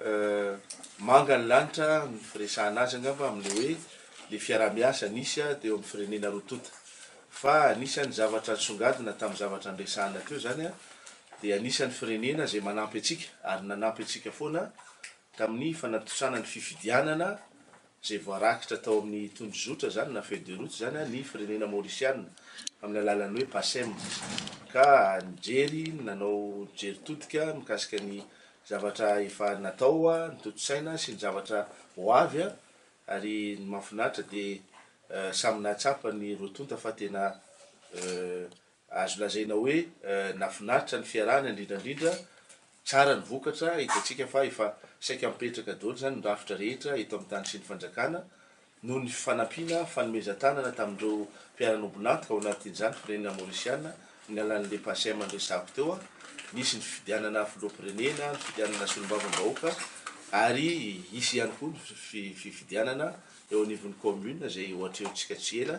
Euh. Manga ny lanitra ny firesahana azy angamba amin'ilay hoe ilay fiaraha-miasa nisy teo amin'ny firenena roa tonta. Fa anisan'ny zavatra nisongadina tamin'ny zavatra niresahana teo izany dia anisan'ny firenena izay manampy antsika ary nanampy antsika foana tamin'ny fanatontosana ny fifidianana izay voarakitra tao amin'ny tondrozotra izany na feuille de route izany ny firenena maorisianina amin'ny alalan'ny hoe PACEM ka nijery nanao jery todika mikasika ny zavatra efa natao, ny tontosaina sy ny zavatra ho avy ary ny mahafinaritra dia samy nahatsapa ny roa tonta fa tena Azo lazaina hoe nafinaritra ny fiarahana indrindrandrindra tsara ny vokatra, hitantsika fa efa saika mipetraka daholo izany ny rafitra rehetra eto amin'ny tany sy ny fanjakana noho ny fifanampiana, fanomezan-tanana tamin'ireo mpiara-nobon'antoka ao anatin'izany firenena Maorisiana amin'ny alalan'ilay PACEM niresahako teo aho, nisy ny fifidianana filoham-pirenena, ny fifidianana solombavambahoaka ary hisy ihany koa ny fifidianana eo anivon'ny commune izay ho atrehintsika tsy ela.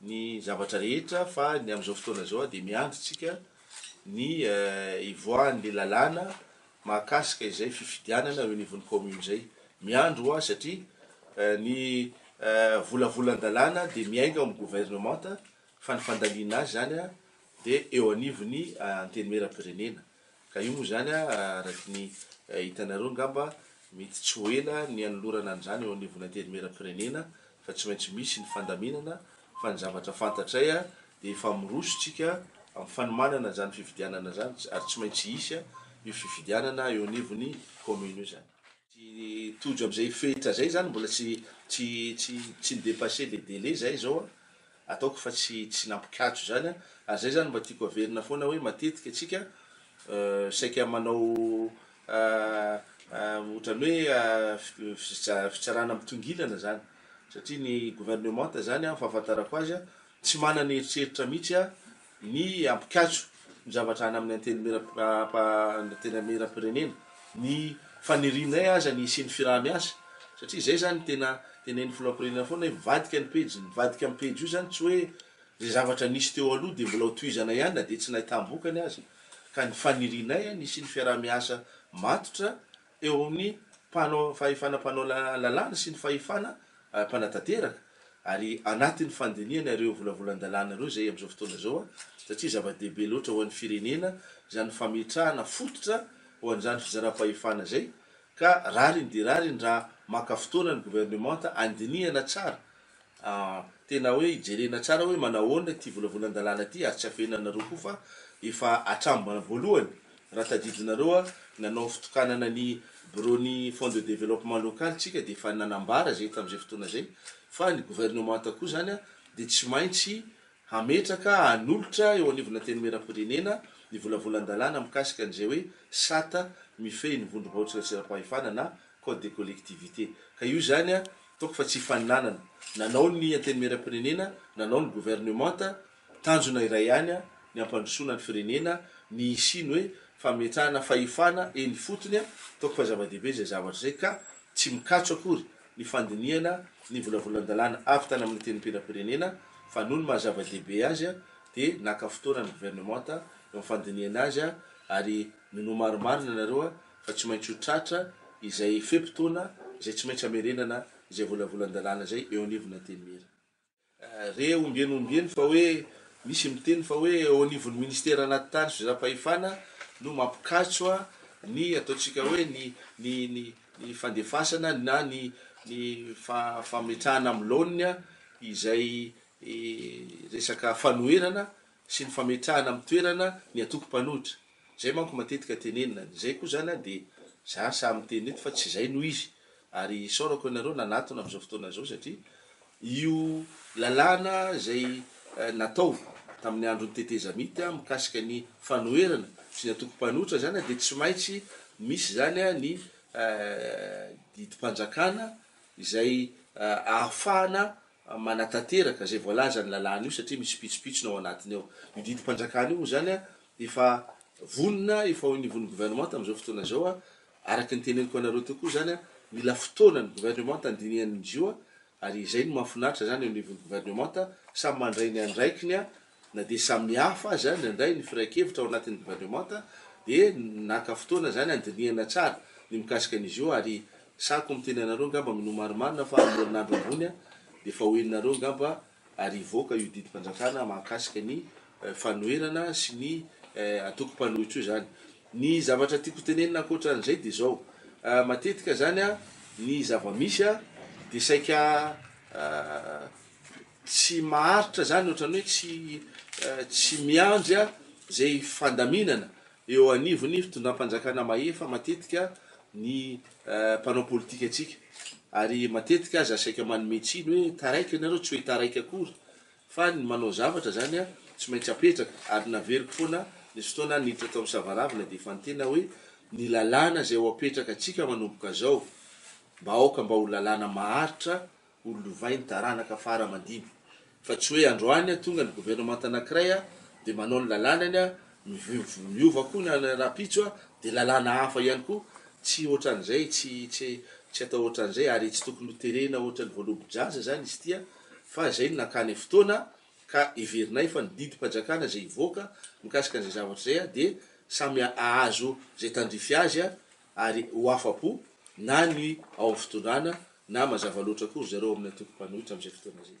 ny zavatra rehetra fa ny amin'izao fotoana izao dia miandry tsika ny hivoahan'le lalàna mahakasika izay fifidianana eo anivon'ny commune zay. Miandry hoa satria ny volavolan-dalàna dia miainga ao amin'ny gouvernementa fa ny fandaniana azy zany dia eo anivon'ny antenimieram-pirenena. Ka io moa izany araky ny hitanareo angamba mety tsy ho ela ny hanolorana an'izany eo anivon'ny Antenimieram-pirenena fa tsy maintsy misy ny fandaminana fa ny zavatra fantatray dia efa miroso isika amin'ny fanomanana izany fifidianana izany ary tsy maintsy hisy io fifidianana eo anivon'ny commune io zany. Tsy tojo amin'izay fenitra izay izany mbola tsy tsy tsy tsy ni-depasser le délai izay izao an! ataoko fa tsy tsy nampikatso izany a, ary zay zany mba tiako averina foana hoe matetika tsika saika manao otrany hoe fiza fitsarana mitongilana zany satria ny gouvernementa zany a fahafantarako azy a tsy manana eritreritra mitsy a ny ampikatso ny zavatra any amin'ny Antenimierampirenena, ny fanirianay aza ny hisian'ny firahamiasa satria izay izany tena tenenin'ny Filoham-pirenena foana hoe mivadika ny pejy, ny mivadika amin'ny pejy io izany tsy hoe izay zavatra nisy teo aloha dia mbola ho tohizana ihany na dia tsy nahitàm-bokany aza ka ny fanirianay ny hisian'ny fiaraha-miasa matotra eo amin'ny mpanao fahefana mpanao lalàna sy ny fahefana mpanatanteraka ary anatin'ny fandinihana ireo volavolan-dalàna ireo izay amin'izao fotoana izao satria zava-dehibe loatra ho an'ny firenena izany fametrahana fototra ho an'izany fizaram-pahefana izay ka rariny dia rariny raha maka fotoana ny governemanta handinihana tsara Ah, tena hoe ijerena tsara hoe manahoana ity volavolan-dalàna ity ary tsy afehinanareo koa fa efa hatrambana voalohany raha tadidinareo ah, nanao fitokanana ny biraon'ny Fonds de Développement Local tsika dia efa nanambara izay tamin'izay fotoana izay fa ny governemanta koa izany ah dia tsy maintsy Hametraka, hanolotra eo anivon'ny Antenimierampirenena ny volavolan-dalàna mikasika an'izay hoe sata mifehy ny vondrom-bahoakan-tseram-pahefana na Code des collectivités. Ka io izany toako fa tsy hifaninanana. Nanao ny Antenimierampirenena, nanao ny governemanta, tanjona iray ihany ny hampandrosoana ny firenena, ny hisian'ny hoe fametrahana fahefana eny ifotony. Toako fa zava-dehibe izay zavatra izay ka tsy mikatso akory ny fandinihana ny volavolan-dalàna avy tany amin'ny Antenimpierapirenena fa noho ny maha zava-dehibe azy dia naka fotoana ny Gouvernementa eo amin'ny fandinihana azy ary ny nomarimarina nareo fa tsy maintsy ho tratra izay fe-potoana izay tsy maintsy hamerenana izay volavolan-dalàna izay eo anivon'ny Antenimiera. Re ombieny ombieny fa hoe misy miteny fa hoe eo anivon'ny Ministera anaty tany sy fizaham-pahefana no mampikatso ny ataontsika hoe ny ny ny ny fandefasana na ny ny fametrahana amin'ny laoniny izay resaka fanoherana sy ny fametrahana amin'ny toerana ny antoko mpanohitra. Zay manko matetika tenenina, ny zay koa zany an dia za sahy miteny eto fa tsy zay no izy, ary isaorako anareo nanatona amin'izao fotoana izao satria io lalàna izay natao tamin'ny andron'ny tetezamita an mikasika ny fanoherana sy ny antoko mpanohitra zany an dia tsy maintsy misy zany an ny didim-panjakana izay ahafahana manatanteraka izay voalazan'ny lalàna io satria misy pitsopitsony ao anatiny ao, io didim-panjakana io moa zany an Efa vonona, efa ao anivon'ny governemanta amin'izao fotoana izao, araka ny teneniko anareo teo koa izany, mila fotoana ny governemanta handinihany ny zio, ary izay no mahafinaritra izany eo anivon'ny governemanta, samy mandray ny andraikiny na dia samihafa aza ny handray ny firaikevitra ao anatin'ny governemanta, dia naka fotoana izany handinihana tsara ny mikasika ny zio, ary sahiko miteny anareo angamba minoa marimarina fa amin'ny herinandro ambony dia efa ho henonareo angamba ary hivoaka io didim-panjakana mahakasika ny fanoherana sy ny antoko mpanohitra io izany. Ny zavatra tiako hotenenina ankoatra an'izay dia izao, matetika izany ny zava-misy dia saika tsy maharitra izany, ohatran'ny hoe tsy miandry izay fandaminana. Eo anivon'ny fitondram-panjakana mahefa matetika ny mpanao politikantsika ary matetika aza saika manome tsiny hoe taraiky ianareo tsy hoe taraiky akory fa ny manao zavatra izany tsy maintsy apetraka ary naveriko foana nisy fotoana aho niditra tao amin'ny savaravina dia efa nitena hoe ny lalàna izay ho apetraka antsika manomboka izao mba aoka mba ho lalàna maharitra Ho lovay ny taranaka fara aman-dibo. Fa tsy hoe androany a, tonga ny governemanta anankiray a, dia manao ny lalànany a, miova miova koa ny an'ny rahampitso a, dia lalàna hafa ihany koa, tsy ohatran'izay, tsy, tsy, tsy atao ohatran'izay, ary tsy tokony ho terena ohatran'ny voalobo-jaza izany izy ity a, fa izay no nakany fotoana, ka heverinay fa ny didim-panjakana izay hivoaka mikasika an'izay zavatra izay a, dia samy hahazo izay tandrify azy a, ary ho afa-po na ny ao amin'ny fitondrana na mazava loatra koa ry zareo ao amin'ny antoko mpanohitra amin'izay fotoana izay.